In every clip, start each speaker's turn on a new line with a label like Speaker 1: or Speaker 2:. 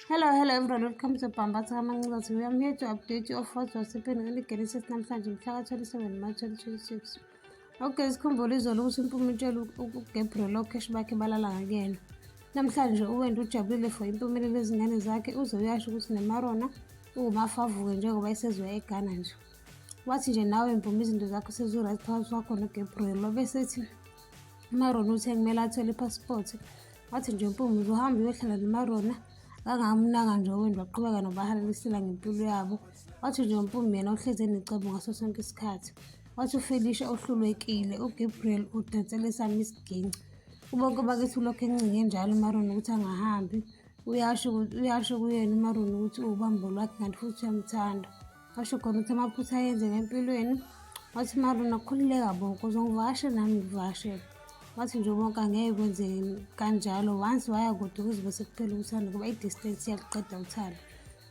Speaker 1: Hello, hello everyone, welcome to Pambatha Kamancazi. We are here to update you of what was happening in the Genesis namhlanje mhla ka-27 March 2026. Okay, sikhumbule izolo ukuthi impuma itshela uGabriel okheshi bakhe balala ngakuyena. Namhlanje uwenda ujabulile for impumelelo ezingane zakhe uze uyasho ukuthi nemarona uwumafavuke njengoba isezwe eGhana nje. Wathi nje nawe mpuma izinto zakho sezuright phakathi kwakho noGabriel wabe sethi umarona uthe kumele athole ipasipoti wathi nje umpumuzo uhamba uyohlala nomarona kangamunaka nje owendi waqhubeka nobahalalisela ngempilo yabo wathi nje umpumi yena uhleze necebo ngaso sonke isikhathi wathi ufelisha ohlulwekile ugabriel udansele sami isiginci ubonke bakithi ulokhu encinge njalo umarona ukuthi angahambi uyasho kuyena umarona ukuthi uwubambo lwakhe kanti futhi uyamthanda washo khona ukuthi amaphutha ayenzeka empilweni wathi marona khululeka bo kuze ngivashe nami ngivashe wathi nje bonke angeke kwenzeke kanjalo once waya kude kuze bese kuphela uthando kuba i-distance yakuqeda uthando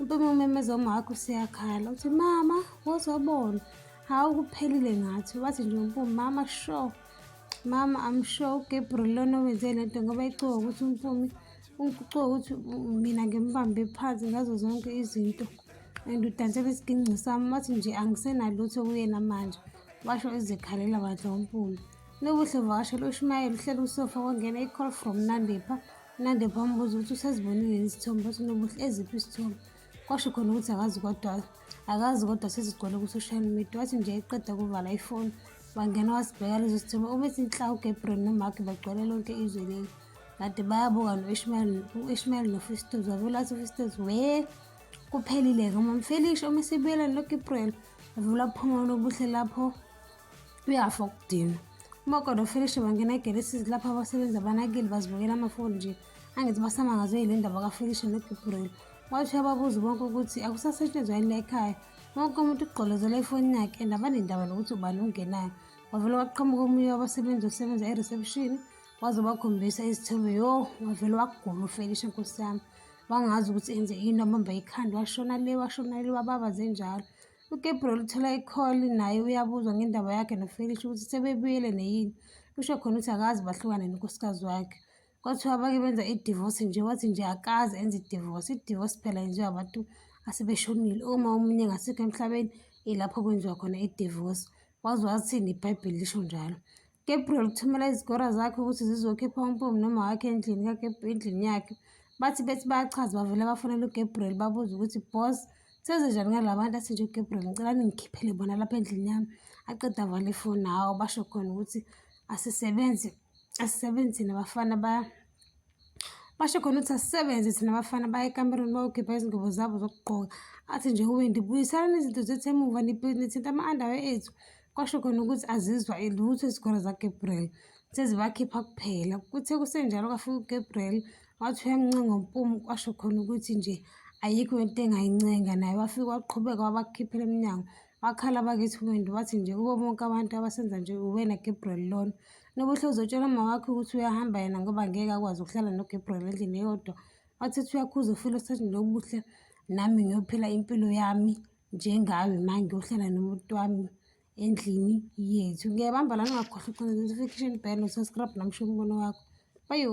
Speaker 1: impumi umemeza uma wakho useyakhala uthi mama wozobona hawu kuphelile ngathi wathi nje umpumi mama sure mama i'm sure ugabriel lona owenze le nto ngoba icuka ukuthi umpumi ucuka ukuthi mina ngimbambe phansi ngazo zonke izinto and udansela isiginci sami wathi nje angisenalutho kuyena manje washo ezikhalela wadla umpumi lobuhle vakasho loshumayela uhleli usofa kwangena i-call from nandepha unandepha wambuza ukuthi usezibonile isithombe wathi nobuhle eziphi isithombe kwasho khona ukuthi akazi kodwa akazi kodwa sezigcwele ku-social media wathi nje eqeda kuvala ifoni wangena wasibheka lezo sithombe ubethi nhla ugabriel nomark bagcwele lonke izwe leli kade bayabuka no-ishmayeli no-ishmayeli nofistos wavelathi ufistos wee kuphelile-ke uma mfelisha uma esibuyeleni lokhu iprel evula uphuma lobuhle lapho uyafa ukudinwa uma kodwa ufelisha bangena egelesizi lapho abasebenzi abanakile bazibukela amafoni nje angithi basamangazwe yile ndaba kafelisha nogibrel wathi uyababuza bonke ukuthi akusasetshenzwa yini la ekhaya wonke umuntu ugqolozela efonini yakhe and abanendaba nokuthi ubani ungenayo wavele waqhamuka omunye wabasebenzi osebenza e-reception waze wakhombisa izithombe yo wavele wagula ufelisha nkosi yami wangazi ukuthi enze yini wabamba ikhanda washona le washona le wababaze njalo ugabriel uthola ikholi naye uyabuzwa ngendaba yakhe nofelish ukuthi sebebuyele neyini usho khona ukuthi akazi bahlukane nonkosikazi wakhe kwathiwa bake benza idivosi nje wathi nje akazi enze idivosi idivosi phela yenziwa abantu asebeshonile uma omunye ngasekho emhlabeni ilapho kwenziwa khona idivosi wazi wathini ibhayibheli lisho njalo Gabriel uthumela izigora zakhe ukuthi zizokhipha umpomu noma wakhe endlini endlini yakhe bathi bethi bayachaza bavele bafonela ugabriel babuze ukuthi boss sezenjani ngala bantu asinje ugabriel ngicela ningikhiphele bona lapha endlini yami aqeda vale ifoni hawo basho khona ukuthi asisebenzi asisebenzini abafana ba basho khona ukuthi asisebenze thina abafana baye ekamerweni bayokhipha izingubo zabo zokugqoka athi nje uwendi buyisalani izinto zethu emuva nithinta ama-andawe ethu kwasho khona ukuthi azizwa elutho izikole zagabriel sezibakhipha kuphela kuthe kusenjalo kwafika ugabriel wathi uyamncenga umpumu kwasho khona ukuthi nje ayikho into engayincenga naye wafike waqhubeka wabakhiphela emnyango wakhala bakithi umuntu wathi nje kubo bonke abantu abasenza nje uwena gabriel lona Nobuhle uzotshela umama wakhe ukuthi uyahamba yena ngoba ngeke akwazi ukuhlala noGabriel endlini eyodwa. Wathi uthi uyakhuza ufile usathi Nobuhle nami ngiyophila impilo yami njengawe ma ngiyohlala nomuntu wami endlini yethu. Ngiyabamba lana ungakhohlwa ukuqonda notification bell no-subscribe nami sho umbono wakho. Bayo.